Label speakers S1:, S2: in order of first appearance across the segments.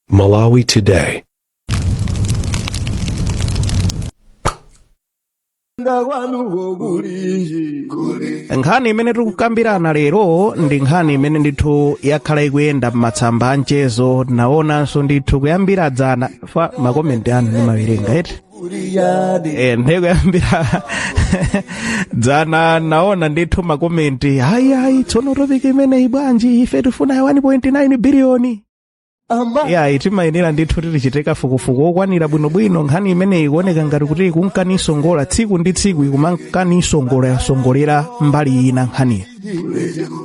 S1: Malawi
S2: Today. nkhani imene tikukambirana lero ndi nkhani imene ndithu yakhala ikuyenda m'matsamba a mchezo naonanso ndithu kuyambira dzana makomenti anu ndimawerenga eti Eh, ndikuyambira dzana naona ndithu makomenti ayi ayi tsono topiki imeneyi bwanji ife tifuna 1.9 biliyoni yayi timayenera ndithu tichite kafukufuku wokwanira bwinobwino nkhani imeneyi ikuoneka ngati kuti ikunka nisongola tsiku ndi tsiku ikumanka nisongola yasongolera mbali ina nkhaniyi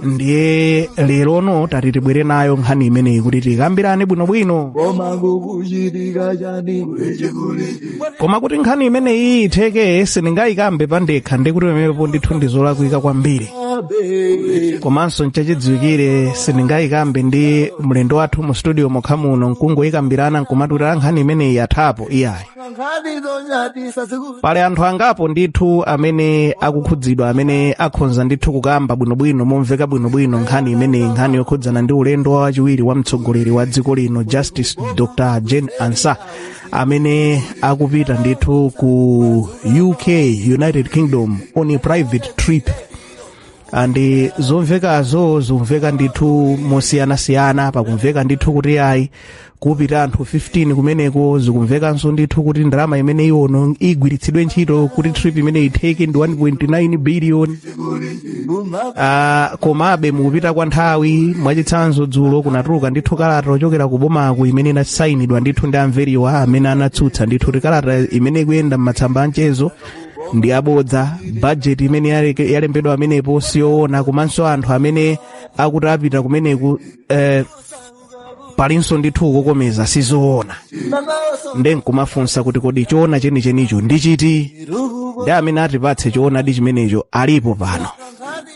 S2: ndiye lerono tati tibwere nayo nkhani imeneyi kuti tikambirane bwinobwino koma kuti nkhani imeneyi itheke sindingayikambe pandekha ndikuti pamenepo ndithu ndizolakwika kwambiri komanso nchachidziwikire sindingayikambe ndi mlendo wathu mu studio mokha muno nkungoyikambirana nkumati nkhani imeneyi yathapo iyayi pali anthu angapo ndithu amene akukhudzidwa amene akhonza ndithu kukamba bwinobwino momveka bwinobwino nkhani imeneyi nkhani yokhudzana ndi ulendo wa wachiwiri wa mtsogoleri wa dziko lino justice dr jane ansah amene akupita ndithu ku uk united kingdom on a private trip and zomvekazo zikumveka ndithu mosiyanasiyana pakumveka ndithu kuti ayi kupita anthu 15 kumeneko zikumvekanso ndithu kuti ndalama imene ionongedwe igwiritsidwe ntchito kuti trip imeneyi itheke ndi 1.9 billion Ah, komabe mukupita kwa nthawi mwachitsanzo dzulo kunatuluka ndithu kalata yochokera ku bomaku imene inasainidwa ndithu ndi a Mveriwa amene anatsutsa ndithu kuti kalata imene ikuyenda m'matsamba a mchezo ndi yabodza bajeti imene yaleke- yalembedwa pamenepo siyoona komanso anthu amene akuti apita kumeneku eh, palinso ndithu kukokomeza sizoona nde nkumafunsa kuti kodi choona chenichenicho ndi chiti nde amene atipatse choonadi chimenecho alipo pano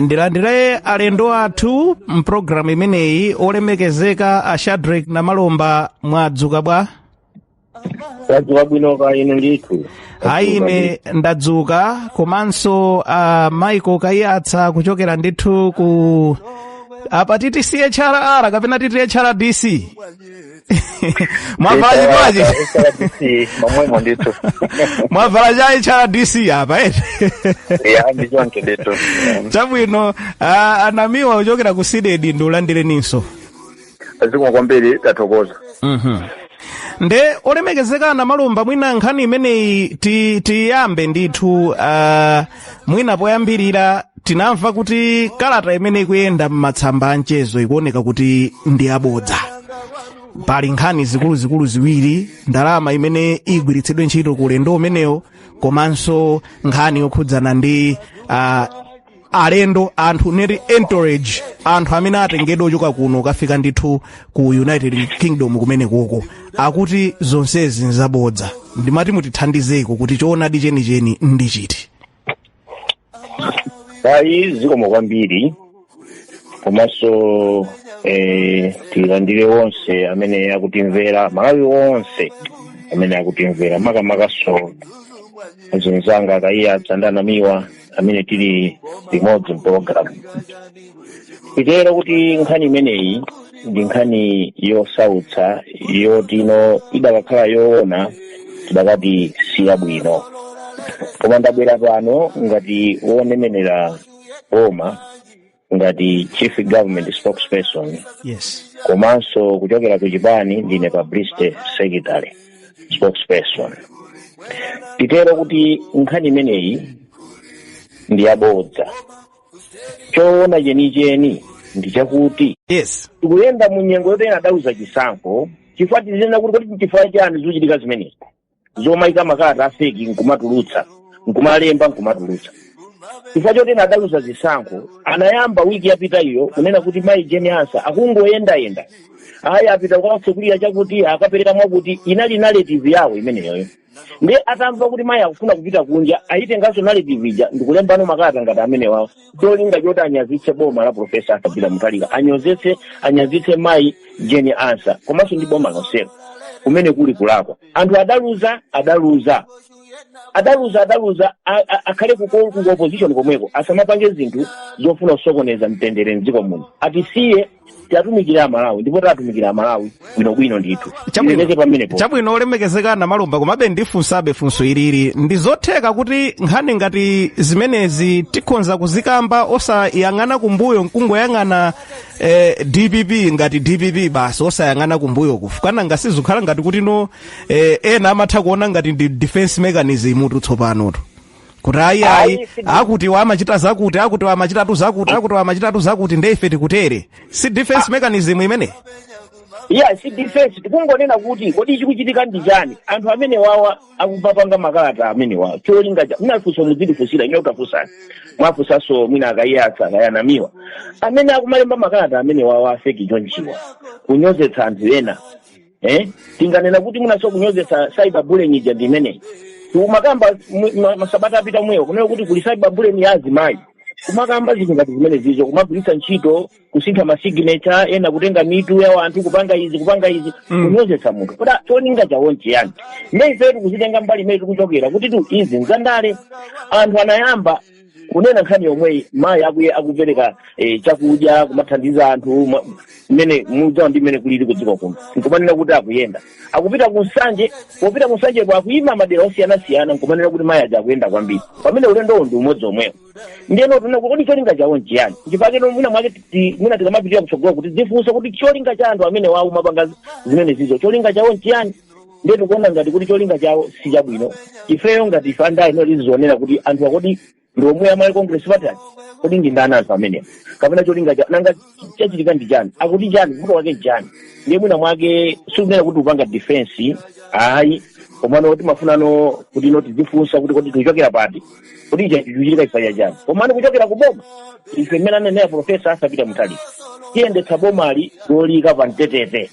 S2: ndilandire alendo athu mpulogalamu imeneyi olemekezeka a shadrack namalomba mwadzuka bwa
S3: tadzuka bwino kaya inu ndithu ayi
S2: ine ndadzuka komanso a michael kaiyatsa kuchokera ndithu ku apa titi chrr kapena titi hrdc mwavala
S3: chikwachi momwemo ndithu
S2: mwavala cha hrdc apa eti ya ndi
S3: choncho ndithu chabwino
S2: ah, a Namiwa kuchokera ku CDEDI ndikulandireninso
S3: zikomo kwambiri
S2: tathokoza nde olemekezeka Namalomba mwina nkhani imeneyi ti- tiyambe ndithu ah, mwina poyambirira tinamva kuti kalata imene ikuyenda m'masamba a mchezo ikuoneka kuti ndi yabodza pali nkhani zikuluzikulu ziwiri ndalama imene igwiritsidwe ntchito ku ulendo umenewo komanso nkhani yokhudzana ndi uh, alendo anthu neti entourage anthu amene atengedwa ochoka kuno kukafika ndithu ku united kingdom kumenekoko akuti zonsezi nzabodza ndimati mutithandizeko kuti choonadi chenicheni ndi chiti
S3: ayi zikomo kwambiri komanso eh, tilandire onse amene akutimvera amalawi onse amene akutimvera makamakanso azinzanga a kaiyatsa ndi a namiwa amene tili limodzi mpologalamu titero kuti nkhani imeneyi ndi nkhani yosautsa yotino idakakhala yoona tidakati siyabwino koma ndabwera pano ngati wonenerera boma ngati chief government spokesperson
S2: yes komanso
S3: kuchokera ku chipani ndine publicity secretary spokesperson titero kuti nkhani imeneyi ndi yabodza choona chenicheni ndi chakuti yes tikuyenda
S2: mu nyengo
S3: yoti ena adaluza chisankho chifukwa tizinena kuti kodi chifukwa chani zikuchitika zimenezi zomayika makalata afeki nkumatulutsa nkumalemba nkumatulutsa chifukwa choti ena adaluza zisankho anayamba wiki yapita iyo kunena kuti mayi jane ansah akungoyendayenda ayi apita kukatsekulira chakuti akapereka mwakuti inali narrative yawo imeneyoyo ndiye atamva kuti mayi akufuna kupita kunja ayitenganso narrative ija ndikulembano makalata ngati amenewawo cholinga choti anyazitse boma la profesa arthur peter mutharika anyozetse anyazitse mayi jane ansah komanso ndi boma lonselo kumene kuli kulakwa anthu adaluza adaluza adaluza adaluza a- a- akhale kuko- ku opposition komweko asamapange zinthu zofuna kusokoneza mtendere mdziko muno atisiye tiwatumikire amalawi ndipo tiwatumikira amalawi bwinobwino ndithu tilekeze pamenepo
S2: chabwino olemekezeka a namalomba komabe ndifunsabe funso ilili ndi zotheka kuti nkhani ngati zimenezi tikhonza kuzikamba osayang'ana kumbuyo nkungoyang'ana eh, dpp ngati dpp basi osayang'ana kumbuyo chifukwa nanga si zikhala ngati kuti no eh, ena amatha kuona ngati ndi defense mechanism tu tsopanotu kuti ayi ayi Ayi, si- akutiwa amachita zakuti akutiwa amachitatu zakuti akutiwa amachitatu zakuti nde ife tikutere si defense mechanism imeneyi ayi si
S3: defense tikungonena kuti kodi chikuchitika ndi chani anthu amene wawa akumapanga makalata amene wawa cholinga cha munafunsa mudzindifunsira ine utafunsani muwafunsenso mwina a kaiyatsa kaya a namiwa amene akumalemba makalata amene wawa afeki chonchiwa kunyozetsa anthu ena eh tinganena kuti munaso kunyozetsa cyber bullying ija ndi imeneyi kumakamba mu- ma- masabata apita kumweyo kunena kuti kuli cyber bullying ya azimayi kumakamba zinthu ngati zimenezizo kumagwiritsa ntchito kusintha masignature ena kutenga mitu ya wanthu kupanga izi kupanga izi Mm. kunyozetsa munthu kodi cholinga chawo nchiyani ndiye ife tikuzitenga mbali imene tikuchokera kuti tu izi nzandale anthu anayamba kunena nkhani yomweyi mayi akuye akupereka eh, chakudya kumathandiza anthu ma- mmene mudziwa ndi mmene kulili kudziko kuno nkumanena kuti akuyenda akupita ku nsanje popita ku nsanjeko akuyima madera osiyanasiyana nkumanena kuti mayi aja akuyenda kwambiri pamene ulendowo ndi umodzi omwewo ndiyeno tuna kodi cholinga chawo nchiyani chifake no mwina mwake ti- mwina tikamapitira kutsogoloku tidzifunse kuti cholinga cha anthu amenewa womapanga zimenezizo cholinga chawo nchiyani ndiye tikuona ngati kuti cholinga chawo si chabwino ifeyo ngati ife andale mmene tizionera kuti anthu akodi ndi omwe a malawi congress party aja kodi ndi ndani anthu amenewa kapena cholinga chawo nanga chachitika ndi chani akuti chani vuto wake ndi chani ndiye mwina mwake sikunena kuti upanga defense ayi komano timafunano kuti no tidzifunsa kuti kodi tikuchokera pati kuti ichi chichitika chifukwa chani komano kuchokera kuboma ife mmene anenera profesa arthur peter mutharika tiyendetsa bomali lolika pa mtetete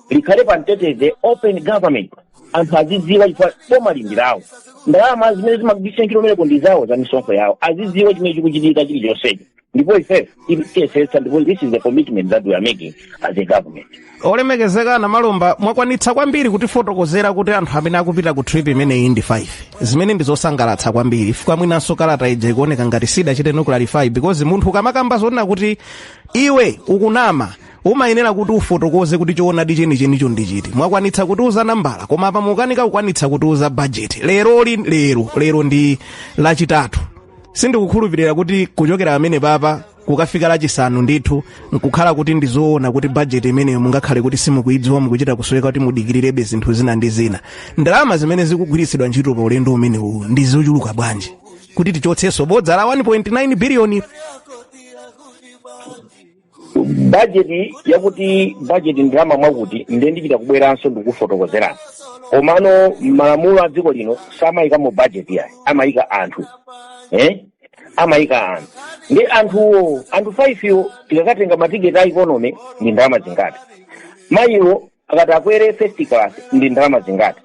S3: likhale pa mtetete open government anthu azidziwa chifukwa bomali ndi lawo ndalama zimene zimagwiritsa ntchito kumeneko ndi zawo za misonkho yawo azidziwa chimene chikuchitika chilichonsecho ndipo ife tiyesetsa ndipo this is the commitment that we are making as a government olemekezeka
S2: namalomba mwakwanitsa kwambiri kutifotokozera kuti anthu amene akupita ku trip imeneyi ndi 5 zimene ndi zosangalatsa kwambiri chifukwa mwinanso kalata ija ikuoneka ngati sidachiteno clarify because munthu ukamakamba zonena kuti iwe ukunama umayenera kuti ufotokoze kuti choonadi chenichenicho ndi chiti mwakwanitsa kutiuza nambala koma apa mukanika kukwanitsa kutiuza bajeti lero li lero lero ndi lachitatu sindikukhulupirira kuti kuchokera pamenepapa kukafika lachisanu ndithu nkukhala kuti ndizoona kuti bajeti imeneyo mungakhale kuti simukuidziwa mukuchita kusoweka kuti mudikirirebe zinthu zina ndi zina ndalama zimene zikugwiritsidwa ntchito pa ulendo umenewu ndi zochuluka bwanji kuti tichotsenso bodza la 1.9 biliyoni
S3: bajeti yakuti bajeti ndalama mwakuti nde ndichita kubweranso ndikufotokozerani komano mmalamulo a dziko lino samayikamo bajeti yayi amayika anthu eh? amayika anthu nde anthuwo anthu 5 wo tikakatenga matiketi a ikonomi ndi ndalama zingati mayiwo akati akwere first class ndi ndalama zingati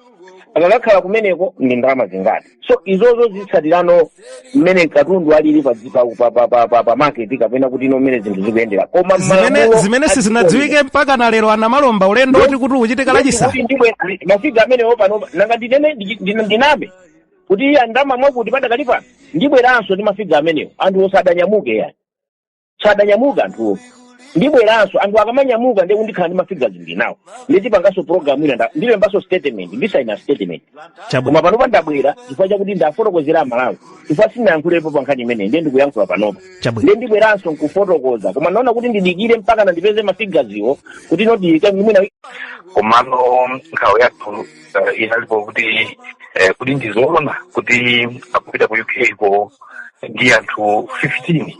S3: akakakhala kumeneko ndi ndalama zingati so izozo zitsatirano mmene katundu alili pa dzi- pa- pa- pa- pa- pa- pa market kapena kuti ino mmene zinthu zikuyendera koma zimene malamulo zimene
S2: a sizinadziwike mpakana lero a namalomba ulendo oti kuti uchitika lachisanu Kuti ndilibe mafiga
S3: amenewo pano nanga ndinene ndi- ndi- ndiname kuti ndalama mwakuti padakali pano ndibweranso ndi mafiga amenewo anthuwo sadanyamuke yayi sadanyamuka anthuwo ndibweranso anthu akamanyamuka ndiye kuti ndikhala ndi mafigazi ndinawo ndiye tipanganso program ina nda- ndilembanso statement ndisaina statement Chabu- koma panopa ndabwera chifukwa chakuti ndafotokozera amalawi chifukwa sinayankhulepo pa nkhani imeneyi ndiye ndikuyankhula panopa Chabwino. ndiye ndibweranso nkufotokoza koma naona kuti ndidikire mpaka nandipeze mafigaziwo kuti noti mwina komano
S1: nkhawa yathu uh, inalipo kuti eh, kodi ndizoona kuti akupita ku uk ko ndi anthu 15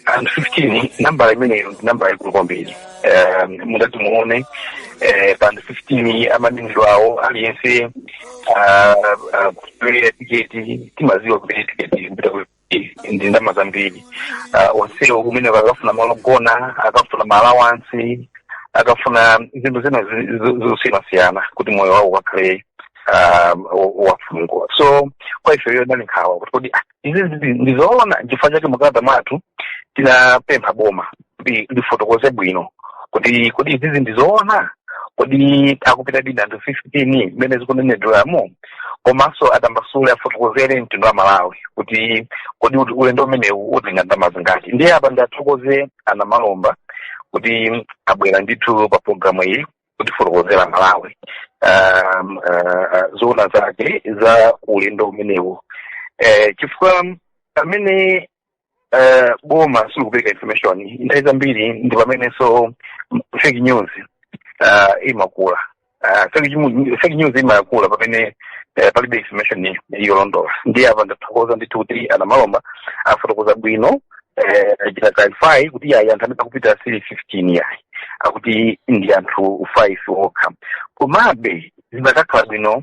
S1: anthu 15 nambala imeneyo ndi nambala yaikulu kwambiri Eh, mutati muone eh, pa anthu 15 amanenedwa awo aliyense ah, ah, kupereka tiketi timaziwa kuti tiketi kupita ku ndi ndalama zambiri Ah, onsewo kumene akafuna malo ogona akafuna maalawansi akafuna zinthu zina zi- zi- zosiyanasiyana kuti moyo wawo ukakhale ah, wo- wofunguka so kwa ife iyo inali nkhawa kuti kodi ah, izi ndi- ndizoona chifukwa chake mukalata mwathu tinapempha boma kuti lifotokoze bwino kuti kodi izizi ndizoona kodi akupitadi ndi anthu 15 mmene zikunenedweramo komanso atambasule afotokozere mtundu wa malawi kuti kodi uti- ulendo umenewu utenga ndalama zingati ndiye apa ndiathokoze a Namalomba kuti abwera ndithu pa programu iyi kutifotokozera malawi um, uh, zoona zake za ulendo umenewu eh, chifukwa pamene eh, boma silikupereka information nthawi zambiri ndi pamenenso fake news ah, imakula Ah, fake news- fake news imakula pamene eh, palibe information yolondola ndiye apa ndathokoza ndithu kuti a Namalomba afotokoza bwino eh, achita clarify kuti yayi anthu amene akupita sili 15 yayi akuti ndi anthu 5 okha komabe zimakakhala bwino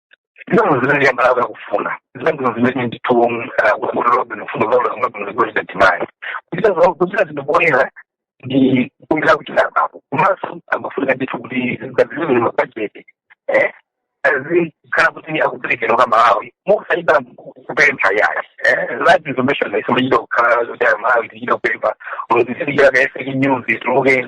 S1: ndizano zimene amalawi akufuna zandino zimene ndithu kulobe kufundo zaulaula kunozikolita timati kuchita zinthu poyera ndi kumbira kuti apapo komanso amafunika ndithu kuti zazilimi mabajeti zikhala kuti akuperekedwa kwa amalawi mokusayida kupempha yayi that information isomachita kukhala kuti malawi tichita kupempha olozisilikira kaye fake news ituluke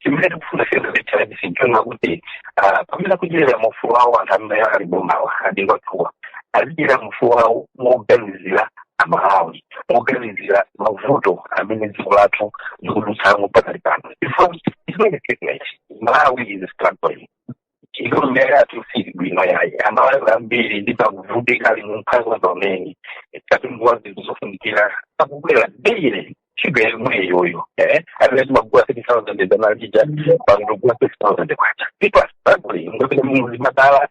S1: chimene tikufuna as HRDC nchonena kuti pamene akudyerera ufulu wawo anthu amene ali m'bomawa adindo athuwa azidyerera ufulu wawo moganizira amalawi moganizira mavuto amene dziko lathu likudutsamo pakali pano chifukwa chimene chimene malawi is struggling economy yathu siili bwino yayi amalawi ambiri ndithu akuvutika ali mumphawi pamene katundu wa zinthu zofunikira akukwera daily shuga yomwe iyoyo eh amene timagula three thousand zanalija pano tikugula six thousand kwacha people are struggling mukapita muzipatala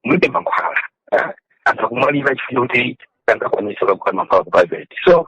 S1: mulibe mankhwala eh, anthu akumwalira chifukwa kuti sangakwanise kugula mankhwala ku private so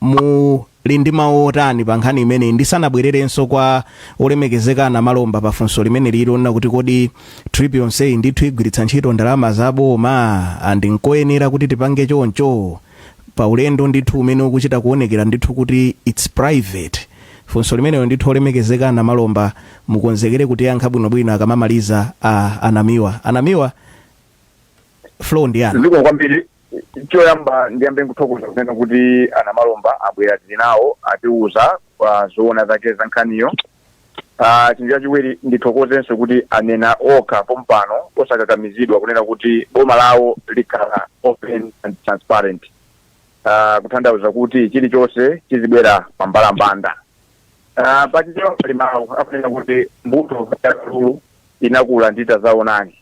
S2: Muli ndi mawu otani pa nkhani imeneyi? Ndisanabwererenso kwa Olemekezeka a Namalomba pa funso limeneli lonena kuti kodi trip yonseyi ndithu igwiritsa ntchito ndalama za boma and nkoyenera kuti tipange choncho pa ulendo ndithu umene ukuchita kuonekera ndithu kuti it's private? Funso limenelo ndithu Olemekezeka a Namalomba mukonzekere kutiyankha bwinobwino akamamaliza a a Namiwa. A Namiwa, floor ndi yanu. Zikomo kwambiri.
S4: Choyamba ndiyambe kuthokoza kunena kuti a Namalomba abwera tili nawo atiuza kwa zoona zake za nkhaniyo Ah, chinthu chachiwiri ndithokozenso kuti anena okha pompano osakakamizidwa kunena kuti boma lawo likhala open and transparent Ah, kutanthauza kuti chilichonse chizibwera pambalambanda Ah, pachichewa pali mawu akunena kuti mbuto ya kalulu inakula ndi tazaonani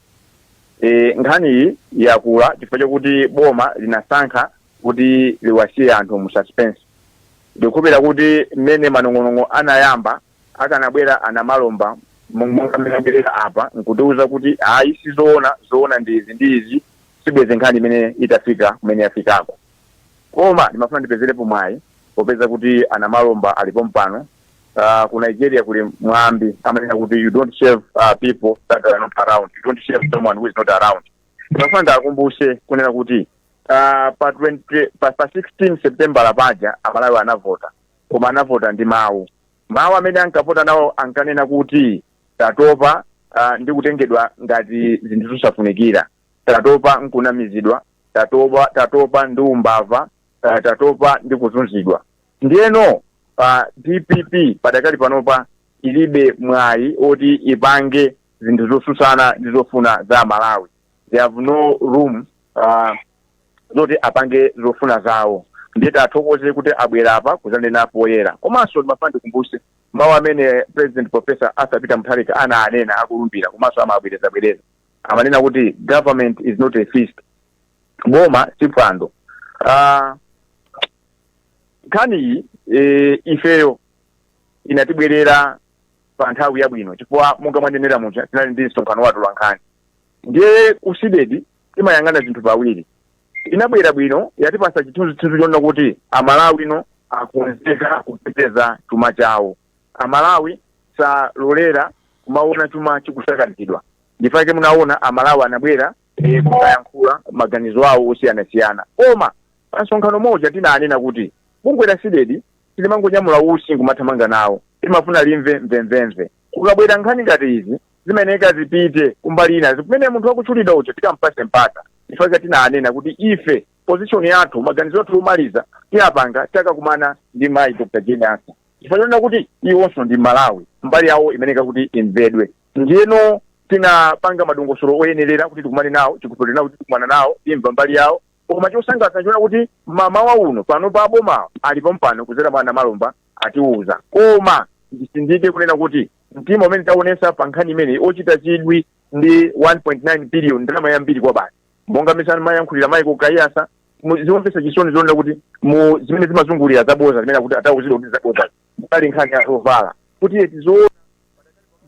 S4: E, nkhaniyi yakula chifukwa chakuti boma linasankha kuti liwasiye anthu mu suspense. Ndikukhulupirira kuti mmene manong'onong'o anayamba, akanabwera a Namalomba mo- monga mmene abwerera apa nkutiuza kuti ayi sizoona, zoona ndi izi ndi izi, sibwenzi nkhani imeneyi itafika kumene yafikako. Koma ndimafuna ndipezerepo mwayi popeza kuti a Namalomba ali pompano. Uh, ku Nigeria kuli mwambi amanena kuti you don't shave uh, people that are not around. You don't shave someone who is not around. Ndimafuna ndiwakumbutse kunena kuti uh, pa 20, pa, pa 16 September paja Amalawi anavota koma anavota ndi mawu mawu amene ankavota nawo ankanena kuti tatopa uh, ndi kutengedwa ngati zinthu zosafunikira tatopa n'kunamizidwa, tatopa, tatopa ndi umbava, uh, tatopa ndi kuzunzidwa. Ndiyeno uh, dpp padakali panopa ilibe mwayi oti ipange zinthu zosusana ndi zofuna za Amalawi they have no room uh, zoti apange zofuna zawo ndiye tathokoze kuti abwera apa kuzanena poyera komanso ndimafuna ndikumbuse mawu amene president professor arthur peter mutharika ananena akulumbira komanso amabwerezabwereza amanena kuti government is not a feast boma si phwando Ah, nkhaniyi eh, ifeyo inatibwerera pa nthawi yabwino chifukwa monga mwanenera muja tinali ndi msonkhano wa atolankhani ndiye ku CDEDI timayang'ana zinthu pawiri inabwera bwino yatipasa chithunzithunzi chonena kuti Amalawi ano akonzeka kuteteza chuma chawo A Malawi salolera kumaona chuma chikusakazidwa nchifukwa chake munaona a Malawi anabwera e, kuyankhula maganizo awo osiyanasiyana koma pa msonkhano muja tinanena kuti bungwe la CDEDI silimangonyamula utsi nkumathamanga nawo limafuna limve mvemvemve kukabwera nkhani ngati izi zimayenera zipite kumbali inayo kumene munthu wakutchulidwa uja tikampatse mpata chifukwa tinanena kuti ife position yathu maganizo athu omaliza tiyapanga takakumana ndi mayi dr jane ansa chifukwa chonena kuti iwonso ndi Mmalawi mbali yawo imayenera kuti imvedwe ndiyeno tinapanga madongosolo oyenerera kuti tikumane nawo tikukhulupirira kuti tikumana nawo timva mbali yawo koma chosangalatsa nchonena kuti mamawa uno panopa abomawo ali pompano kudzera mwa a Namalomba atiwuza koma ndisindike kunena kuti mtima umene taonetsa pa nkhani imeneyi ndi wochititsa chidwi ndi 1.9 billion ndalama yambiri kwabasi monga mmene amayankhulira Michael Kaiyatsa mu- zomvetsa chisoni zonena kuti mu zimene zimazungulira zaboza zimene akuti atawuzidwa kuti zaboza pali nkhani ya zovala kuti eti zoona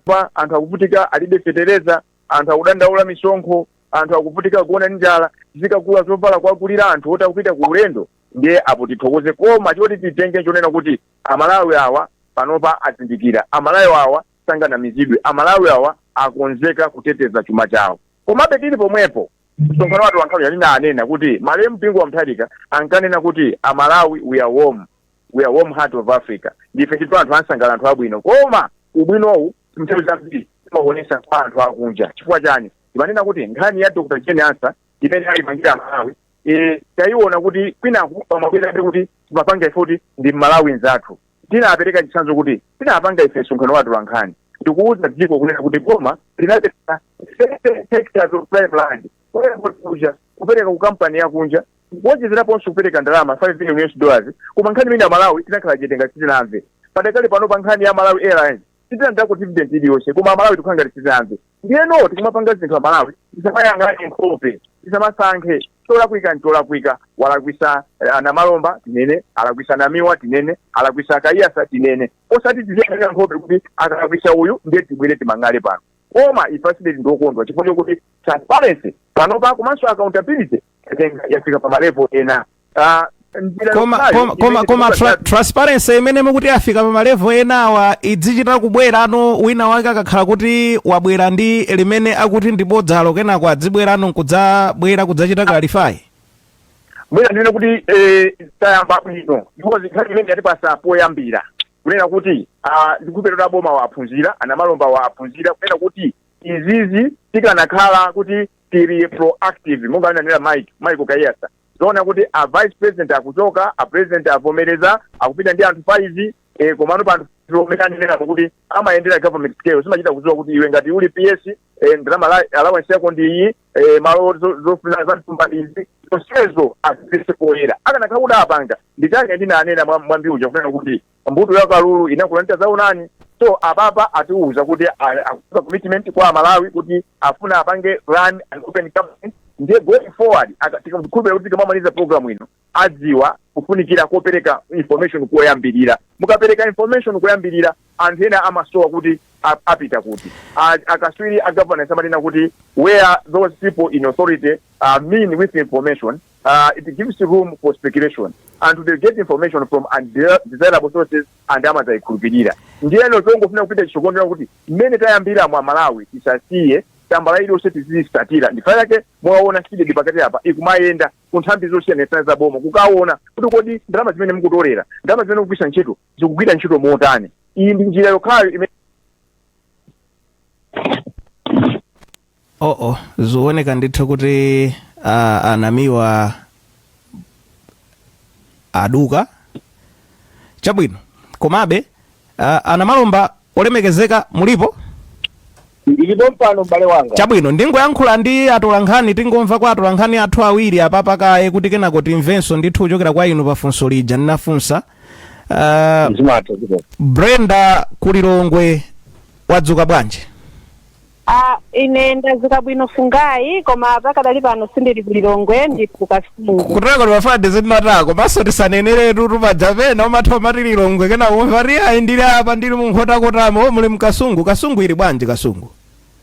S4: apa anthu akuvutika alibe fetereza anthu akudandaula misonkho anthu akuvutika kuona ndi njala zikagula zovala kuwagulira anthu oti akupita ku ulendo ndiye apo tithokoze koma choti titenge nchonena kuti amalawi awa panopa azindikira amalawi awa sanganamizidwe amalawi awa akonzeka kuteteza chuma chawo Komabe tili pomwepo, msonkhano wa atolankhani tinanena kuti malemu Bingu wa Mutharika ankanena kuti a Malawi we are warm, we are warm heart of Africa, ndife ndithu anthu ansangala anthu abwino koma ubwinowu nthawi zambiri timauonesa kwa anthu akunja chifukwa chani? Timanena kuti nkhani ya Dr. Jane Ansah imene ayipangira a Malawi eh, tayiona kuti kwinaku pamabwerabe kuti timapanga ife kuti ndi Mmalawi nzathu. Tinapereka chitsanzo kuti, Tinapanga ife msonkhano wa atolankhani ndi kuuza dziko kunena kuti boma linapereka 30 hectares of prime land ku airport kuja kupereka ku kampani yakunja kuwonjezeraponso kupereka ndalama 5 million US dollars koma nkhani imene amalawi tinakhala chete ngati sitinamve padakali pano pa nkhani ya malawi airlines sitinatengeko dividend iliyonse koma amalawi tikukhala ngati sitinamve ndiyeno tikamapanga zinthu amalawi tisamayang'ane nkhope tisamasankhe cholakwika ncholakwika alakwitsa eh, a Namalomba tinene alakwitsa Namiwa tinene alakwitsa Kaiyatsa tinene osati tiziyang'ana nkhope kuti akalakwitsa uyu ndiye tibwere timang'ale pano koma ife a CDEDI ndi okondwa chifukwa chokuti transparency panopa komanso accountability yatenga- yafika pa malevo ena Ah, njira koma yokhayo koma
S2: koma imene koma tra- tikupatsa- transparency imene mukuti yafika pa malevo enawa idzichita kubwera ano wina wake akakhala kuti wabwera ndi limene akuti ndi bodzalo kenako adzibwerano nkudzabwera kudzachita
S4: clarify mwina ndinene kuti eh, tayamba bwino ndipo ndi nkhani imene yatipatsa poyambira kunena kuti ah, ndikukhulupirira boma aphunzira a Namalomba aphunzira kunena kuti izizi tikanakhala kuti tili proactive monga ananena mike kaiyatsa zoona kuti a vice president akuchoka a president avomereza akupita ndi anthu 5 eh, komano pa anthu omwe anenerako kuti amayendera government scale zimachita kudziwa kuti iwe ngati uli ps eh, ndalama ala- allowance yako ndi iyi eh, malo zo- zofuna za m'thumba ndi izi zonsezo azibweretse poyera akanakhala kuti apanga nditange ndinanena mwa- mwambi uja kunena kuti mbuto ya kalulu inakula ndi tadzaonani so apapa atiuza kuti a- akuza commitment kwa amalawi kuti afuna apange run an open government ndiye going forward aka- tikukhulupirira kuti tikamamaliza program ino adziwa kufunikira kopereka information koyambirira mukapereka information koyambirira anthu ena amasowa kuti a- apita kuti A- akaswiri a governance amanena kuti where those people in authority are mean with information uh, it gives room for speculation and they get information from undesirable sources and amazayikhulupirira ndiyeno tongofuna kupita chitsogolo kuti mmene tayambiramu amalawi tisasiye tambala iliyonse tiziyitsatira n'chifukwa chake mwaona cdedi pakati apa ikumayenda ku nthambi zosiyanasiyana za boma kukaona kuti kodi ndalama zimene mukutolera ndalama zimene mukugwiritsa ntchito zikugwira ntchito motani iyi ndi njira yokhayo imene
S2: oh oh zioneka ndithu kuti ah, a namiwa aduka chabwino komabe ah, a namalomba olemekezeka mulipo
S3: ndilipo pano m'bale wanga chabwino
S2: ndingoyankhula ndi atolankhani tingomva kwa atolankhani athu awiri apapa kaye kuti kenako timvenso ndithu kuchokera kwa inu pafunso lija ndinafunsa ah, brenda ku lilongwe wadzuka bwanji
S5: Ah, ine ndadzuka bwino fungayi koma pakadali pano sindili ku lilongwe ndili ku kasungu kutako
S2: timafade zimatako komanso tisaneneretu paja pena umatha umati lilongwe kenako umva kuti ayi ndili apa ndili mu nkhotakotamo o muli mkasungu kasungu ili bwanji kasungu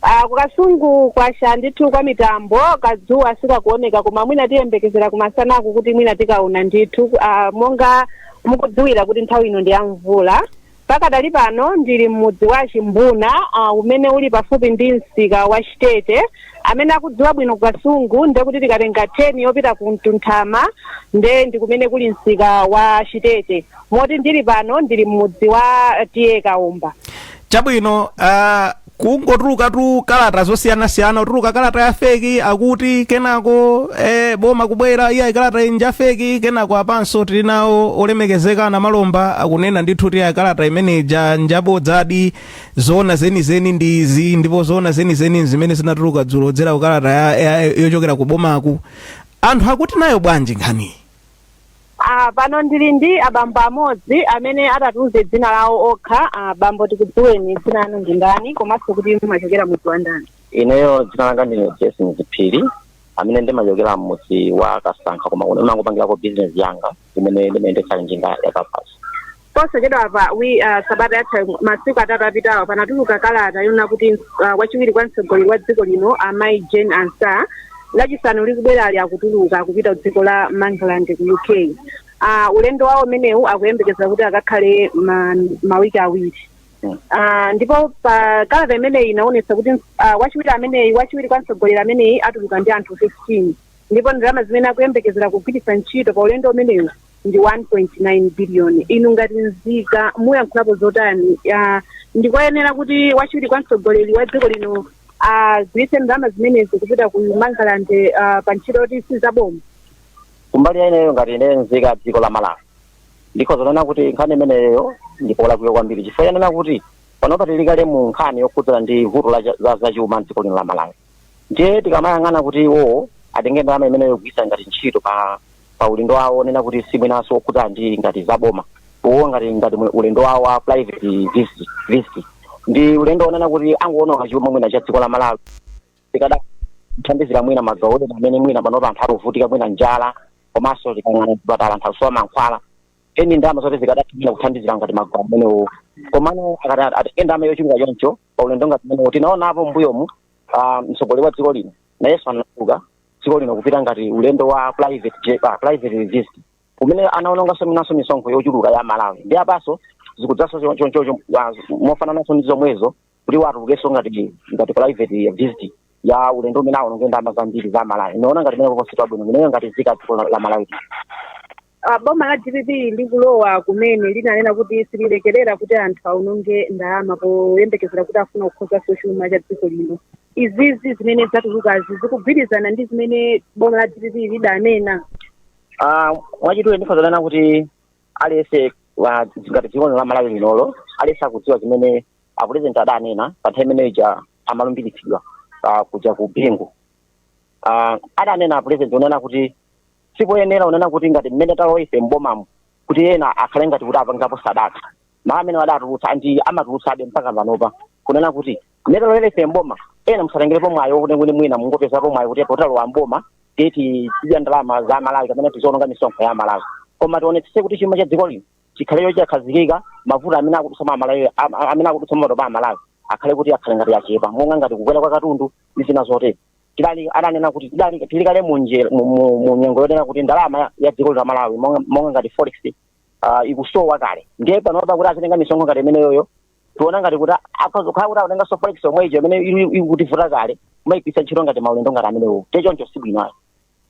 S2: Ah, ku
S5: kasungu kwacha ndithu kwa mitambo kadzuwa sikakuoneka koma mwina tiyembekezera kumasanaku kuti mwina tikaona ndithu ah, monga mukudziwira kuti nthawi ino ndi ya mvula Pakadali pano ndili m'mudzi wa Chimbuna a umene uli pafupi ndi msika wa Chitete. Amene akudziwa bwino ku Kasungu nde kuti tikatenga turn yopita ku Mtunthama nde ndi kumene kuli msika wa Chitete. Moti ndili pano ndili m'mudzi wa TA Kaomba. Chabwino
S2: a. kungotulukatu kalata zosiyanasiyana kutuluka kalata ya feki akuti kenako eh, boma kubwera ayi kalata iyi nja feki kenako apanso tili nawo olemekezeka namalomba akunena ndithu kuti ayi kalata imene ija njabodzadi zoona zenizeni ndi izi ndipo zoona zenizeni zimene zinatuluka dzulo kudzera ku kalata ya, ya, yochokera ku bomaku anthu akuti nayo bwanji nkhaniyi
S5: Ah, pano ndili ndi abambo amodzi amene atatiuze dzina lawo okha. Ah, bambo tikudziweni dzina lanu ndi ndani komanso kuti mumachokera mudzi wa ndani. ineyo dzina
S6: langa ndine jason ziphiri amene ndimachokera mmudzi wa kasankha koma kuno ndimangopangirako bizinesi yanga imene ndimayendetsa njinga ya kabaza
S5: posachedwapa wi uh, sabata yatha masiku atatu apitawa panatuluka kalata yonena kuti uh, wachiwiri kwa mtsogoleri wa dziko lino amayi jane ansah lachisanu likubwerali akutuluka kupita dziko la mangalande ku uk uh, ulendo wawo umenewu akuyembekeza kuti akakhale ma, mawiki awiri Uh, ndipo pa kalata imeneyi inaonetsa kuti uh, wachiwiri ameneyu wachiwiri kwa mtsogoleri ameneyu atuluka ndi anthu 15 ndipo ndalama zimene akuyembekezera kugwiritsa ntchito pa ulendo umenewu ndi 1.9 billion inu ngati nzika muyankhulapo zotani Ah, ndikoyenera kuti wachiwiri kwa mtsogoleri wa dziko lino agwiritse ndalama zimenezi kupita ku mangalande ah, pa ntchito yoti sizaboma
S6: kumbali ya ineyo ngati ine nzika ya dziko la malawi ndikhoza kunena kuti nkhani imeneyo ndipolakwika kwambiri chifukwa chonena kuti panopa tili kale mu nkhani yokhudzana ndi vuto la cha- za zachuma mdziko lino la malawi ndiye tikamayang'ana kuti iwowo atenge ndalama imeneyo kugwiritsa ngati ntchito pa pa ulendo wawo onena kuti si mwinanso okhudza ndi ngati za boma uwo ngati ngati mwe- ulendo wawo wa private visit visit ndi ulendo onena kuti angoononga chuma mwina cha dziko la malawi chikadathandizira mwina magawo ena amene mwina panopo anthu akuvutika mwina njala komanso tikayang'ana zipatala anthu akusowa mankhwala ndi ndalama zoti zikadathandizira kuthandizira ngati magawo amenewo komano akati atenge ndalama yochuluka choncho pa ulendo ngati umenewu tinaonapo m'mbuyomu ah, mtsogoleri wa dziko lino nayenso anatuluka dziko lino kupita ngati ulendo wa private jet- ah, private visit umene anaononganso mwinanso misonkho yochuluka ya amalawi ndi apanso zikudzanso cho- cho- cho- cho- ah, mofanananso ndi zomwezo kuti atulukenso ngati ngati private visit ya ulendo umene aononge ndalama zambiri za amalawi ndaona ngati imene kuti si pabwino ineyo ngati nzika ya dziko la la malawi
S5: Ah, boma la dpp likulowa kumene linanena kuti sililekerera kuti anthu aononge ndalama poyembekezera kuti afuna kukonzanso chuma cha dziko lino izizi zimene zatulukazi zikugwirizana ndi zimene boma la dpp lidanena
S6: Ah, mwachidule ndikhoza kunena kuti aliyense wa- ngati nzika ya dziko la malawi linolo aliyense akudziwa zimene apulezidenti adanena pa nthawi imene ija amalumbiritsidwa ah, kuja ku bingu Ah, adanena apulezidenti onena kuti sipoyenera kunena kuti ngati mmene talowa ife m'bomamo kuti ena akhale ngati kuti apangapo sadaka mawu amene adatulutsa and amatulutsabe mpaka panopa kunena kuti mmene talowera ife m'boma ena musatengerepo mwayi wokuti kuti mwina mungopezapo mwayi kuti poti talowa m'boma tiye tidye ndalama za amalawi kapena tiziononga misonkho ya amalawi koma tionetsetse kuti chuma cha dziko lino chikhale chokhazikika mavuto amene akudutsa amalawi am- am- amene akudutsa matopa amalawi akhale kuti akhale ngati achepa monga ngati kukwera kwa katundu ndi zina zotero adanena kuti tili kale mu nje- mu- mu- mu nyengo yonena kuti ndalama ya- ya dziko la malawi monga monga ngati forex ah, ikusowa kale ndiye panopa kuti azitenga misonkho ngati imeneyoyo tiona ngati kuti akhoza kukhala kuti akutenganso forex yomweyo imene ili- ikutivuta kale kumayipitsa ntchito ngati maulendo ngati amenewo ti choncho si bwino ayi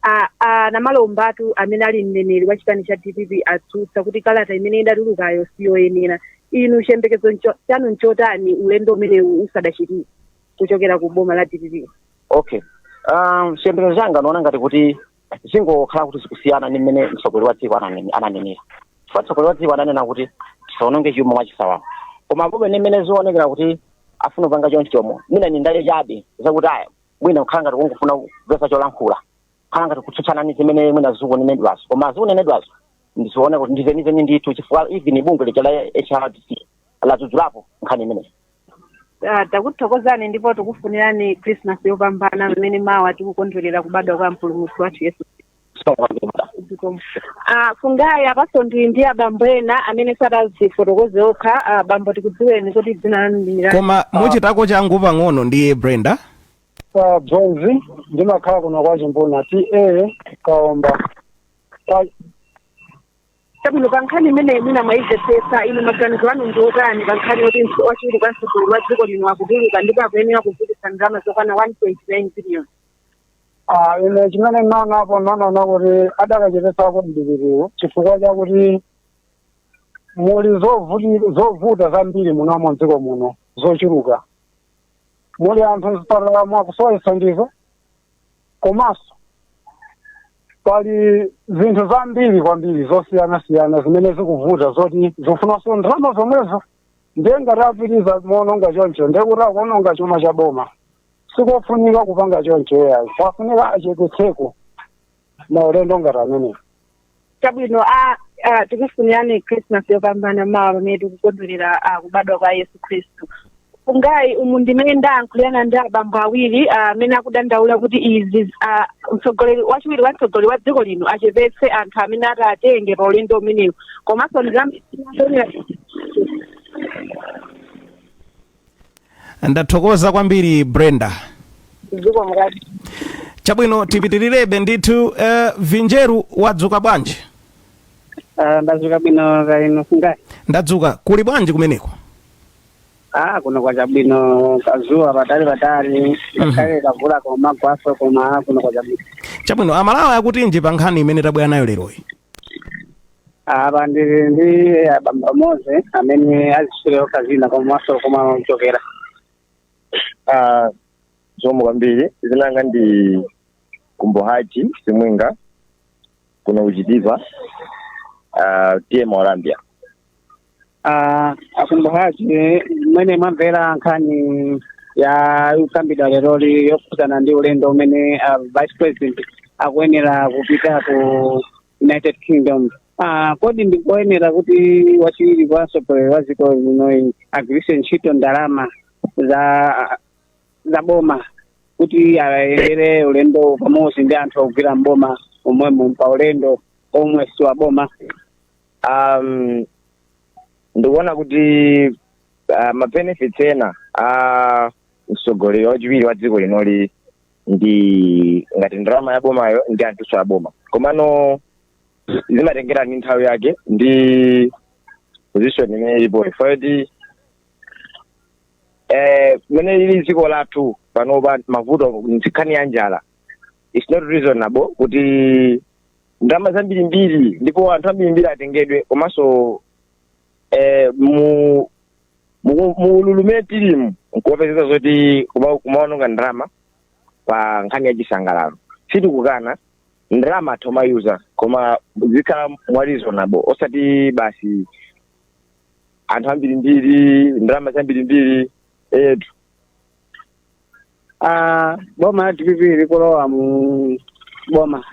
S6: a- a-
S5: namalombatu amene ali mneneri wa chipani cha dpp atsutsa kuti kalata imene idatulukayo siyoyenera inu chiyembekezo ncho- chanu nchotani ulendo umenewu usadachitike kuchokera ku boma la dpp
S6: okay um, chiyembekezo changa ndiona ngati kuti zingokhala kuti zikusiyana ndi mmene mtsogoleri wa dziko ananene- ananenera chifukwa mtsogoleri wa dziko ananena kuti tisaononge chuma mwachisawawa koma pomwe ndi mmene zikuonekera kuti afuna kupanga chonchomo mwina ni ndale chabe zakuti aya mwina kukhala ngati kungofuna kupeza cholankhula khala ngati kutsutsana ndi zimene mwina zikunenedwazo koma zikunenedwazo ndizooneka kuti ndizenizeni ndithu chifukwa even bungwe lija la hrdc ladzudzulapo nkhani imeneyi Ah,
S5: takuthokozani ndipo tikufunirani christmas yopambana pamene mawa tikukondwerera kubadwa kwa mpulumutsi wathu yesu zikomo kwambiri Zikomo. Ah, fungayi apanso ndili ndi abambo ena amene atazifotokoze okha ah, bambo tikudziweni kuti dzina lanu ndi ndani? koma muchitako
S2: changu pang'ono ndine brenda pa
S7: bronzi ndimakhala kuno kwa chimbuna ta kaomba
S5: chabwino pa nkhani imeneyi mwina mwayimvetsetsa inu maganizo anu ndi otani pa nkhani yoti wachiwiri kwa mtsogoleri wa dziko lino akutuluka ndipo akuyenera kugwiritsa ndalama zokwana
S7: 1.9 billion Ah, ine chimene ndinaonapo ndinaona kuti adakachepetsako mdipitiwo chifukwa chakuti muli zovuti- zovuta zambiri munomo mdziko muno zochuluka muli anthu mzipatalamo akusowa chithandizo komanso pali zinthu zambiri kwambiri zosiyanasiyana zimene zikuvuta zoti zikufunanso ndalama zomwezo ndiye ngati apitiriza moononga choncho ndiye kuti akuononga chuma cha boma sikofunika kupanga choncho ayi pafunika achepetseko maulendo ngati amenewo
S5: chabwino a a tikufunirani christmas yopambana mawa pamene tikukondwerera ah, kubadwa kwa yesu khristu fungayi umu ndi mmene ndayankhulirana ndi abambo awiri ah, amene akudandaula kuti izi ah, mtsogoleri wachiwiri wa mtsogoleri wa dziko lino achepetse anthu amene ataatenge pa ulendo umenewu komanso ndizamtonera
S2: ndathokoza kwambiri brenda
S5: dziko mukati
S2: chabwino tipitirirebe ndithu eh, vinjeru wadzuka bwanji Ah,
S8: ndadzuka bwino kaya inu fungayi ndadzuka
S2: kuli bwanji kumeneko
S8: ah kuno kwacha bwino kadzuwa patali patali ngakhale kavula kumagwanso koma kuno kwacha bwino chabwino amalawi
S2: akutinji pa nkhani imene tabwera nayo leroyi
S8: apa ndili ndi abambo amodzi amene azitchule okha dzina komanso komwe amachokera Ah,
S4: zomwe kwambiri dzina langa ndi Kumbukani simwinga kuno kuChitipa ah, TA Mwaulambia Ah, a
S8: Kumbukani mmene mwamvera nkhani yayi ikukambidwa leroli yokhudzana ndi ulendo umene ah, vice president akuyenera kupita ku united kingdom Ah, kodi ndikoyenera kuti wachiwiri kwa mtsogoleri wa dziko linoyu agwiritse ntchito ndalama za za boma kuti ayendere ulendowu pamodzi ndi anthu ogwira mboma omwemo pa ulendo omwe si wa boma
S4: um, ndikuona kuti uh, mabenefits ena a mtsogoleri wachiwiri wa dziko linoli ndi ngati ndalama ya bomayo ndi anthuso a boma komano zimatengera ndi nthawi yake ndi position imene ilipoyo ifuyo eh, mmene lili dziko lathu panopa mavuto nkhani ya njala its not reasonable kuti ndalama zambirimbiri ndipo anthu ambirimbiri atengedwe komanso eh, mu mu- mu ululu mmene tilimu nkumapezeka zoti kuma- kumaononga ndalama pa nkhani ya chisangalalo sitikukana ndalama atha kumayuza koma zikhala mwa reasonable osati basi anthu ambirimbiri ndalama zambirimbiri etu
S8: Ah, boma la dpp likulowa mu boma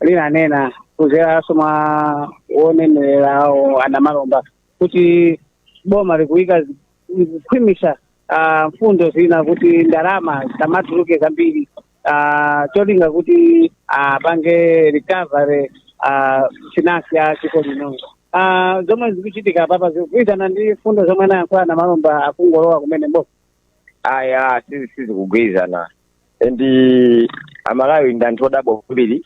S8: linanena kudzeranso mwa owanenerera awo a Namalomba kuti boma likuyika likukhwimitsa ah, mfundo zina kuti ndalama zisamatuluke zambiri ah, cholinga kuti apange recovery ah, finance ya dziko lino Ah, zomwe zikuchitika papa zikugwirizana ndi mfundo zomwe anayankhula a Namalomba akungolowa kumene mboma ayi
S4: sizi- sizikugwirizana and amalawife ndi anthu odabwa kwambiri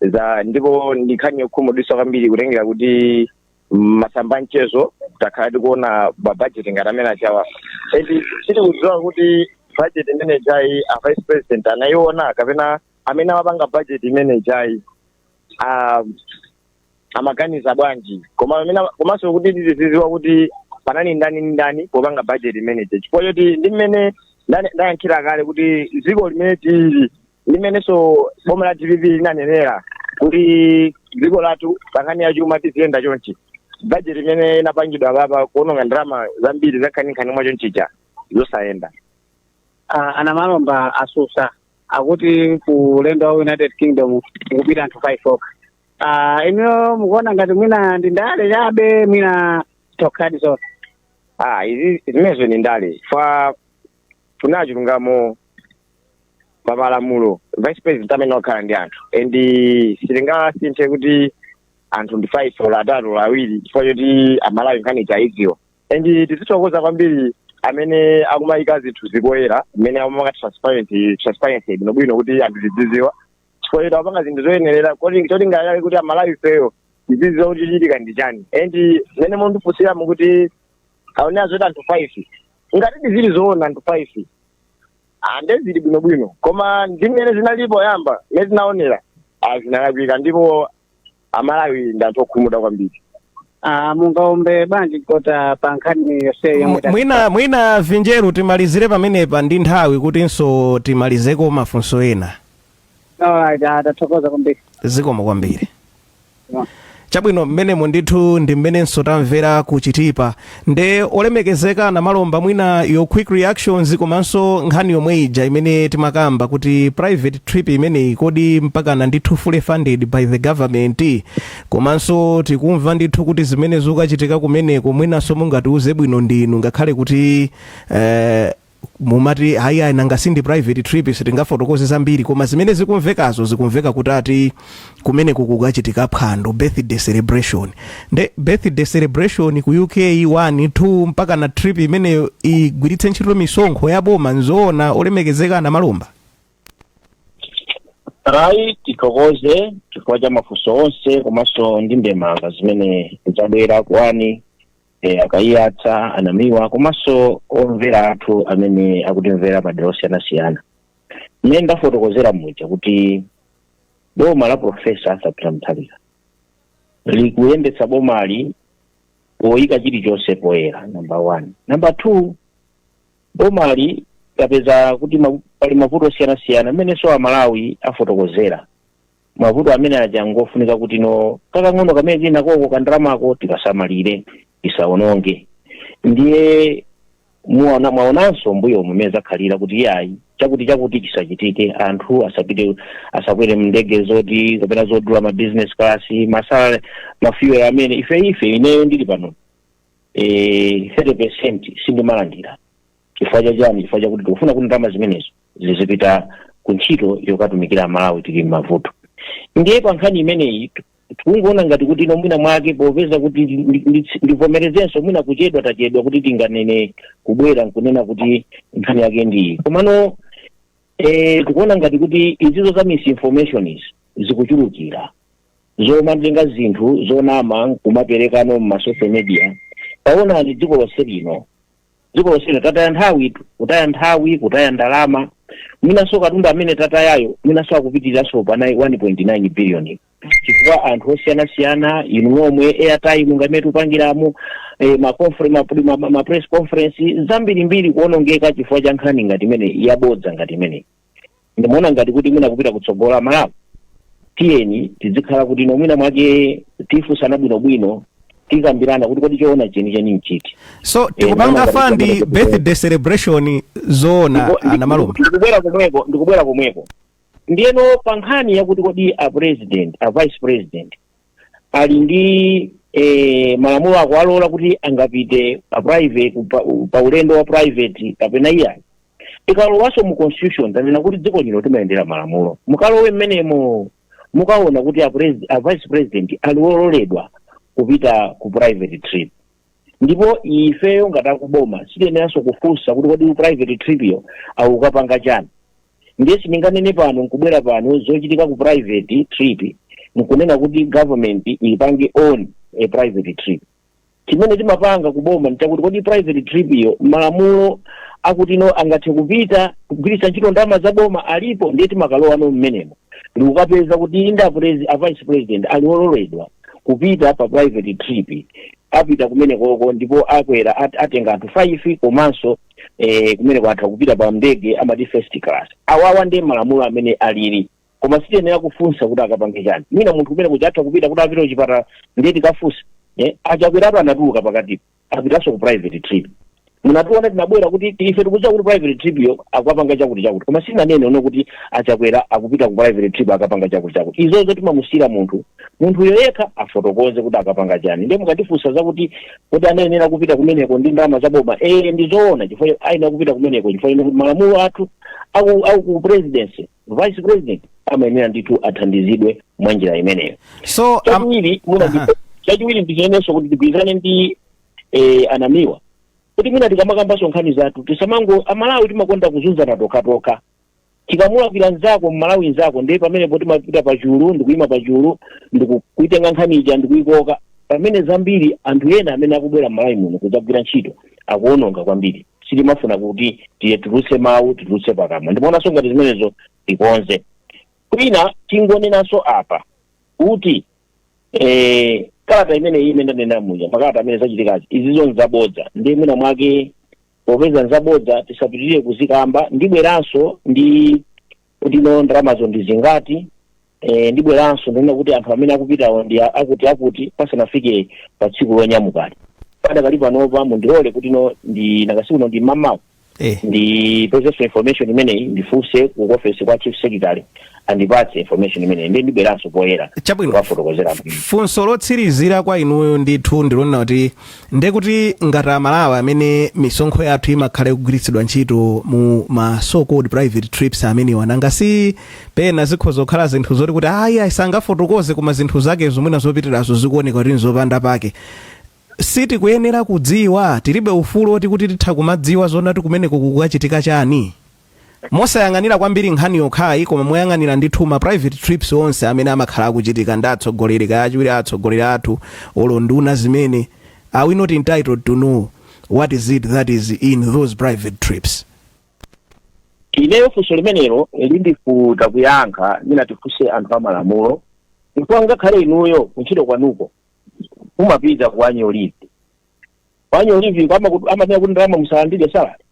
S4: za ndipo ndi nkhani yokhumudwitsa kwambiri kutengera kuti mmasamba a mchezo takhala tikuona mabajeti ngati amene ajawa and sitikudziwa kuti bajeti imene ijayi a vice president anayiona kapena amene amapanga bajeti imene ijayi ah, amaganiza bwanji komanso kuti tizidziwa kuti panali ndani ndani popanga budget imeneje chifukwa choti ndi mmene ndane- ndayankhira kale kuti dziko limene tili limenenso boma la dpp linanenera kuti dziko lathu pankhani ya chuma tiziyenda chonchi budget imene inapangidwa papa kuononga ndalama zambiri zakhaninkhani mwa chonchija zosayenera Ah,
S8: a Namalomba atsutsa akuti ku ulendo wa united kingdom kukupita anthu 5 okha Ah, inuyo mukuona ngati mwina ndi ndale chabe mwina nzokhadi zonse ah
S4: izi zimenezo ndi ndale ife tifuna chilungamo pa malamulo vice president amayenera kukhala ndi anthu and sizingasinthe kuti anthu ndi five or atatu or awiri chifukwa choti amalawi nkhani aidziwa and tizithokoza kwambiri amene akumayika zinthu poyera zimene amamanga transparency transparency bwinobwino kuti anthu tidziziwa chifukwa choti apanga zinthu zoyenerera cholinga chake kuti amalawi ifeyo tizidziwa kuti chochitika ndi chani and mmene mundifunsiramo kuti aonera zoti anthu five ngatidi zili zoona anthu five ah nde zili bwinobwino koma ndi mmene zinalili poyamba mmene tinaonera ah, zinalakwika ndipo amalawi ndi anthu okhumudwa kwambiri Ah,
S8: mungaombe bwanji kota pa nkhani yonseyi yomwe Mw- mwina mwina
S2: vinjeru timalizire pamenepa ndi nthawi kutinso timalizeko mafunso ena Alright,
S8: ah, tathokoza kwambiri zikomo
S2: kwambiri Yeah. chabwino mmenemo ndithu ndi mmenenso tamvera ku Chitipa nde olemekezeka Namalomba mwina your quick reactions komanso nkhani yomwe ija imene timakamba kuti private trip imeneyi kodi mpakana ndithu fully funded by the government komanso tikumva ndithu kuti zimene zikuchitika kumeneko mwinanso mungatiuze bwino ndinu ngakhale kuti eh, mumati ayi ayi nanga si ndi private trip sitingafotokoze zambiri koma zimene zikumvekazo zikumveka kuti ati kumeneko kukachitika phwando birthday celebration nde birthday celebration ku uk 1 2 mpakana trip imeneyo igwiritse ntchito misonkho ya boma nzoona olemekezeka a
S3: Namalomba alright tithokoze chifukwa cha mafunso onse komanso ndi ndemanga zimene zabwera kwa e, a Kaiyatsa a Namiwa komanso omvera athu amene akutimvera madera osiyanasiyana mmene ndafotokozera muja kuti boma la profesa arthur peter mutharika likuyendetsa bomali poyika chilichonse poyera number one number two bomali tapeza kuti ma- pali mavuto osiyanasiyana mmenenso amalawi afotokozera mavuto amene aja ngofunika kuti no kakang'ono kamene tili nakoko kandalamako tikasamalire isawonongeke ndiye muona mwaonanso mbuyomu mmene zakhalira kuti yayi chakuti chakuti chisachitike anthu asapite asakwere mndege zoti kapena zodula ma business class kusala mafuel amene ife ife ineyo ndili pano eh, 30 percent sindimalandira chifukwa cha chani chifukwa chakuti tikufuna kuti ndalama zimenezo zizipita ku ntchito yokatumikira amalawi tili m'mavuto ndiye pa nkhani imeneyi t- tikungoona ngati kuti no mwina mwake popeza kuti ndi- ndi- ndivomerezenso mwina kuchedwa tachedwa kuti tinganene kubwera nkunena kuti nkhani yake ndiyi komano eh, tikuona ngati kuti izizo za misinformation izi zikuchulukira zomatenga zinthu zonama kumaperekano m'masocial media taonani dziko lonse lino dziko lonseli tataya nthawi tu- kutaya nthawi kutaya ndalama mwinanso katundu amene tatayayo mwinanso akupitiriranso pa 1.9 billion chifukwa anthu osiyanasiyana inu nomwe airtime ngati mmene tikupangiramo eh, ma confer- ma- ma- ma- ma press conference zambirimbiri kuonongeka chifukwa cha nkhani ngati imene yabodza ngati imene ndimaona ngati kuti mwina kupita kutsogolo amalawi tiyeni tidzikhala kuti no mwina mwake tifunsana bwinobwino tikambirana kuti kodi choona chenicheni nchiti so tikupanga ndikuona
S2: ngati fandi chimene- birthday celebration zoona Ndipo- ndi- anamalume ndikubwera komweko
S3: ndikubwera komweko ndiyeno pa nkhani yakuti kodi a president a vice president ali ndi eh, malamulo akuwalola kuti angapite pa private pa, pa ulendo wa private kapena iyayi ikalowanso mu constitution tanena kuti dziko lino timayendera malamulo mukalowe mmenemo mukaona kuti a, pres- a vice president ali ololedwa kupita ku private trip ndipo ifeyo ngati akuboma sitiyeneranso kufunsa kuti kodi private trip yo akukapanga chani ndiye sindinganene pano nkubwera pano zochitika ku private trip nkunena kuti government ipange on a private trip chimene timapanga kuboma nchakuti kodi private trip yo malamulo akuti no angathe kupita kugwiritsa ntchito ndalama za boma alipo ndiye timakalowa no mmenemo ndikukapeza kuti inde a presi- a vice president ali ololedwa kupita pa private trip apita kumenekoko ndipo akwera at, atenga anthu 5 komanso eh, kumeneko atha kupita pa ndege amati first class awowa ndi malamulo amene alili koma sitiyenera kufunsa kuti akapange chani mwina munthu kumene kuja atha kupita kuti apite kuchipatala ndiye tikafunsa eh, a Chakwera pano anatuluka pakati apitanso ku private trip munationa titabwera kuti ti- ife tikudziwa kuti private trip yo akukapanga chakuti chakuti koma sitinanene no kuti a Chakwera akupita ku private trip akapanga chakuti chakuti izozo timamusiyira munthu munthuyo yekha afotokoze kuti akapanga chani ndiye mukatifunsa zakuti kodi anayenera kupita kumeneko ndi ndalama za boma ee ndi zoona chifukwa ayenera kupita kumeneko chifukwa no kuti malamulo athu aku aku ku presidency vice president amayenera ndithu athandizidwe mwa njira imeneyo so um, chachiwiri
S2: muna Aha.
S3: chachiwiri ndichineneso kuti tigwirizane ndi eh, anamiwa kuti mwina tikamakambanso nkhani zathu tisamango amalawi timakonda kuzunzana tokhatokha tikamulakwira nzako mmalawi nzako ndiye pamenepo timapita pachulu ndikuyima pachulu ndikuitenga nkhani ija ndikuyikoka pamene zambiri anthu ena amene akubwera mmalawi muno kudzagwira ntchito akuononga kwambiri sitimafuna kuti titulutse mawu titulutse pakamwa ndimaonanso ngati zimenezo tikonze kwina tingonenanso apa kuti eh, kalata imene iyi imene ndanena muja makalata amene zachitikazi izizo nzabodza ndiye mwina mwake popeza nzabodza tisapitirire kuzikamba ndibweranso ndi kuti no ndalamazo ndi zingati eh, ndibweranso ndinena kuti anthu amene akupitawo ndi a- akuti akuti pasanafike pa tsiku lonyamukali padakali panopa mundilole kuti no ndinakatsiku no ndi mmawa eh ndipezenso information imeneyi ndifunse ku office kwa chief secretary andipatse information imeneyi ndi ndibweranso poyera Chabwino. kukafotokozera
S2: bwino funso lotsirizira kwa inuyo ndithu ndilonena kuti ndekuti ngati amalawi amene misonkho yathu imakhala ikugwiritsidwa ntchito mu ma so called private trips amenewa nanga si pena zikhoza kukhala zinthu zoti kuti ayi ayi sangafotokoze koma zinthu zake zomwe mwina zopitirazo zikuoneka kuti nzopanda pake Sitikuyenera kudziwa, tilibe ufulu oti kuti titha kumadziwa zonati kumeneko kukachitika chani. Mosayang'anira kwambiri nkhani yokhayi koma moyang'anira ndithu ma private trips onse amene amakhala akuchitika ndi atsogoleri kaya achiwiri a atsogoleri athu olo nduna zimene, are we not entitled to know what is it that is in those private
S3: trips? Ineyo funso limenelo lindivuta kuyankha, mwina tifunse anthu a malamulo chifukwa ngakhale inuyo kuntchito kwanuko mumapita ku annual leave ku annual leave ko amaku- amanena kuti ndalama musalandire salary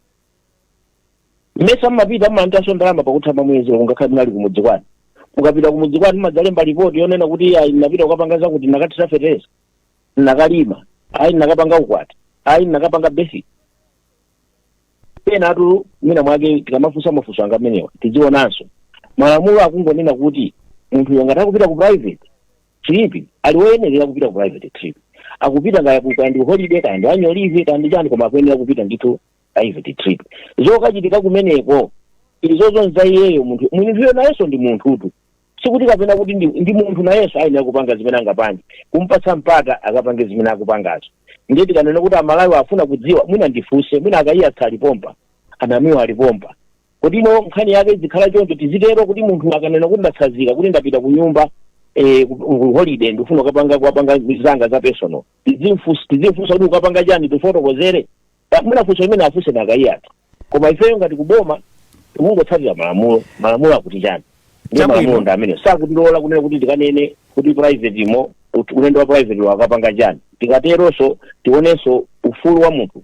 S3: mmesa mumapita mumalandiranso ndalama pakutha pa mwezi ngakhale munali kumudzi kwanu mukapita kumudzi kwanu mumadzalemba ripoti yonena kuti ayi ndinapita kukapanga zakuti ndinakathira fertilizer ndinakalima ayi ndinakapanga ukwati ayi ndinakapanga basi penatu mwina mwake tikamafunsa mafunso ngati amenewa tidzionanso malamulo akungonena kuti munthuyo ngati akupita ku private trip ali woyenerera kupita ku private trip akupita kaya ku- kaya ndi holiday kaya ndi annual leave kaya ndi chani koma akuyenera kupita ndithu private trip zokachitika kumeneko izozo nza iyeyo munthu munthuyo nayenso ndi munthutu sikuti kapena kuti ndi, ndi munthu nayenso ayenera kupanga zimene angapange kumpatsa mpata akapange zimene akupangazo ndiye tikanena kuti amalawi afuna kudziwa mwina ndifunse mwina a Kaiyatsa alipompa anamiwa alipompa kodi ino nkhani yake izikhala choncho tizitero kuti munthu akanena kuti ndatsazika kuti ndapita ku nyumba eh, ku- ku holiday ndifuna ukapanga kukapanga zanga za personal Tizimfus- tizimfunsa kuti ukapanga chani tifotokozere Pa- mwina funso imene afunse a Nakayiyatu koma ifeyo ngati kuboma tikungotsatira malamulo malamulo akuti chani ndi Chabwino. malamulo ndi amene sakutilola kunena kuti tikanene kuti private imo ut- ulendo wa private wakapanga chani tikateronso tionenso ufulu wa munthu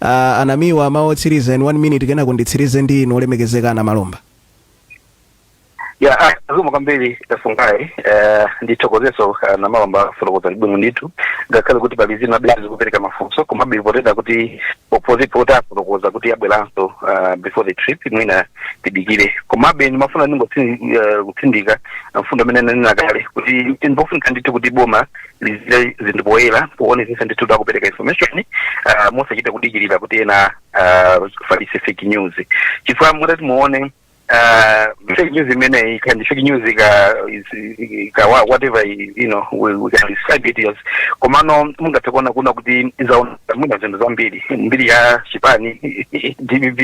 S2: Ah, anamiwa mawu otsiriza in one minute kenako nditsirize ndi inu olemekezeka a Namalomba
S1: ya ah, zikomo kwambiri a Fungai eh, ndithokozeso ah, a Namalomba afotokoza bwino ndithu ngakhale kuti pali zina zimene zikupereka mafunso koma be potengera kuti opposite kuti afotokoza kuti abweranso ah, before the trip mwina tidikire komabe ndimafuna ndingokutsindika mfundo amene nanena kale kuti nkofunika ndithu kuti boma lizichita zinthu poyera poonetsetsa ndithu kuti akupereka information uh, mosachita kudikirira kuti ena uh, afalitse fake news chifukwa mutati muone uh, fake news imeneyi can be fake news ika, is- ika wha- whatever i- you know we, we can describe it as komano mungathe kuona kuna kuti yaononga mwina zinthu zambiri mbiri ya chipani cha DPP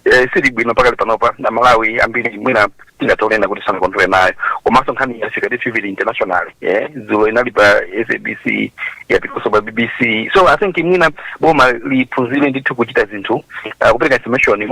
S1: eh, siili bwino pakali panopa a Malawi ambiri mwina tingathe kunena kuti sanakondwere nayo komanso nkhani yafika ndithu pa international eh dzulo inali pa sabc yapitanso pa bbc so i think mwina boma liphunzire ndithu kuchita zinthu uh, kupereka information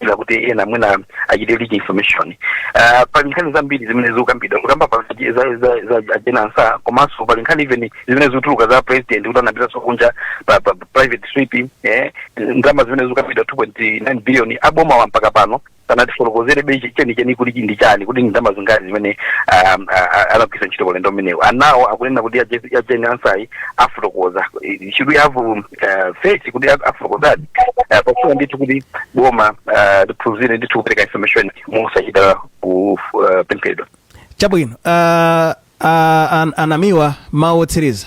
S1: mosadikira kuti ena mwina achite leak information uh, pali nkhani zambiri zimene zikukambidwa kukamba pa za, za, za, za a Jane Ansah komanso pali nkhani even zimene zikutuluka za president kuti anapitaso kunja pa, pa, pa private trip eh, ndalama zimene zikukambidwa 2.9 billion aboma wa mpaka pano sanatifotokozerebe chenicheni kuti chi ndi chani kuti ndi ndalama zingati zimene um, a- a- anagwiritsa ntchito pa ulendo umenewu anawo akunena kuti aje- a Jane Ansah-yi afotokoza Eh, should we have um, uh, faith kuti a- afotokozadi Eh, pakufunika ndithu kuti boma eh, liphunzire ndithu kupereka information mosachita kupemphedwa
S2: chabwino uh, uh, an, anamiwa mawu otsiriza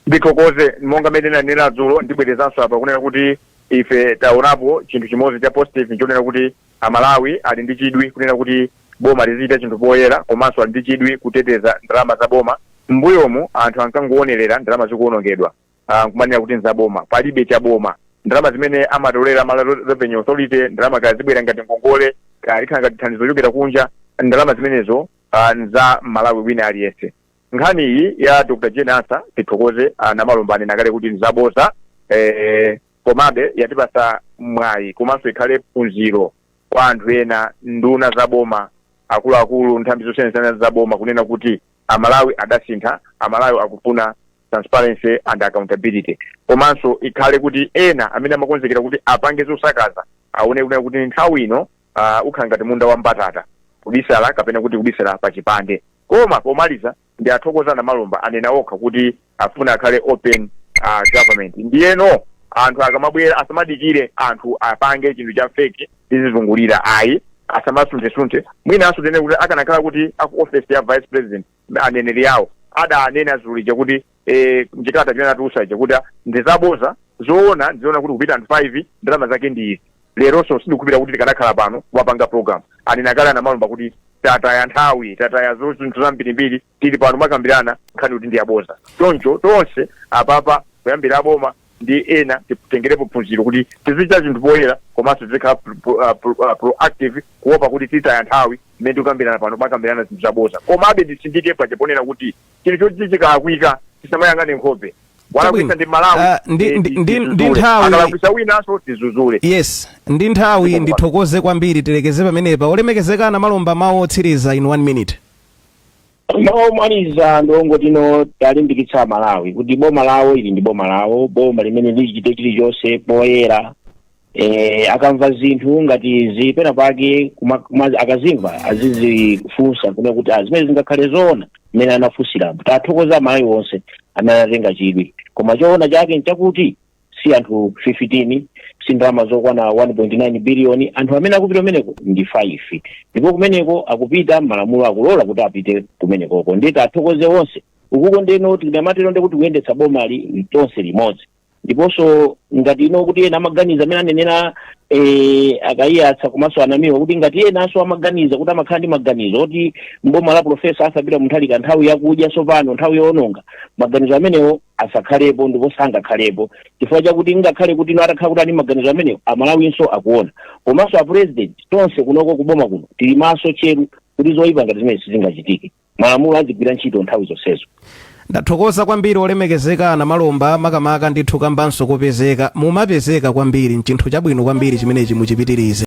S4: ndithokoze monga mmene nanena dzulo ndibwerezanso apa kunena kuti Ife taonapo chinthu chimodzi cha positive nchonena kuti a Malawi ali ndi chidwi kunena kuti boma lizichita chinthu poyera komanso ali ndi chidwi kuteteza ndalama za boma. M'mbuyomu anthu ankangoonerera ndalama zikuonongedwa ah, nkumanena kuti nzaboma. Palibe cha boma. Ndalama zimene amatolera Malawi Revenue Authority, ndalama kaya zibwera ngati ngongole, kaya likhala ngati thandizo lochokera kunja, ndalama zimenezo ah, nza Malawi wina aliyense. Nkhani iyi ya Dr Jane Ansah tithokoze a Namalomba anena kale kuti nzaboza eh, komabe yatipasa mwayi komanso ikhale phunziro kwa anthu ena nduna za boma akuluakulu nthambi zosiyanasiyana za boma kunena kuti amalawi adasintha amalawi akufuna transparency and accountability komanso ikhale kuti ena amene amakonzekera kuti apange zosakaza aone kunena kuti nthawi ino uh, ukhala ngati munda wa mbatata kubisala kapena kuti kubisala pa chipande koma pomaliza ndiwathokoza a Namalomba anena okha kuti afuna akhale open uh, government ndiyeno anthu akamabwera asamadikire anthu apange chinthu cha feki tizizungulira ayi asamasunthesunthe mwinanso tinene kuti akanakhala kuti aku office ya vice president aneneri awo adanena dzulo lija kuti eh, mchikalata chimene anatulusa chija kuti ah, ndi zaboza zoona ndizoona kuti kupita anthu 5 ndalama zake ndi izi leronso sindikhulupira kuti tikadakhala pano wapanga program anena kale a Namalomba kuti tataya nthawi tataya zo- zinthu zambirimbiri tili pano kumakambirana nkhani kuti ndi yaboza choncho tonse apapa kuyambira aboma ndi ena titengerepo phunziro kuti tizichita zinthu poyera komanso tizikhala pro- pro- ah, pro- ah, proactive kuopa kuti titaya nthawi mmene tikukambirana pano kumakambirana zinthu zaboza komabe nditsindike paja ponena kuti chinthu choti chikalakwika tisamayang'ane nkhope walakwisa ndi malawi Ah, ndi- eh, ndi- ndi- ndi
S2: tizuzule. nthawi- akalakwisa
S4: winanso tizuzule yes ndi
S2: nthawi Ndipo- ndithokoze kwambiri tilekeze pamenepa olemekezeka a Namalomba mawu otsiriza in one minute
S3: omaliza ndiwongotino tiwalimbikitsa amalawi kuti boma lawo ili ndi boma lawo boma limeneli lichite chilichonse poyera eh, akamva zinthu ngati izi pena pake kuma- kuma- akazimva azizifunsa kunena kuti ah, zimene zingakhale zoona mmene anafunsirapo tiwathokoza amalawi wonse amene anatenga chidwi koma choona chake nchakuti si anthu 15 si ndalama zokwana 1.9 biliyoni anthu amene akupita kumeneko ndi 5 ndipo kumeneko akupita malamulo akulola kuti apite kumenekoko ndiye tiwathokoze onse ukuko ndeno tinamatero ndi kuti kuyendetsa bomali tonse limodzi ndiponso ngati ino kuti ena amaganiza mmene anenera eh, a Kaiyatsa komanso a Namiwa kuti ngati enanso amaganiza kuti amakhala ndi maganizo oti mboma la profesa Arthur Peter Mutharika nthawi yakudya tsopano nthawi yoononga maganizo amenewo asakhalepo ndipo sangakhalepo chifukwa chakuti ngakhale kuti ino atakhala kuti ali maganizo amenewo amalawinso akuona komanso apurezidenti tonse kunoko kuboma kuno tili maso tcheru kuti zoyipa ngati zimenezi sizingachitike malamulo azigwira ntchito nthawi zonsezo
S2: ndathokoza kwambiri olemekezeka a Namalomba makamaka ndithu kambanso kopezeka mumapezeka kwambiri nchinthu chabwino kwambiri chimenechi muchipitirize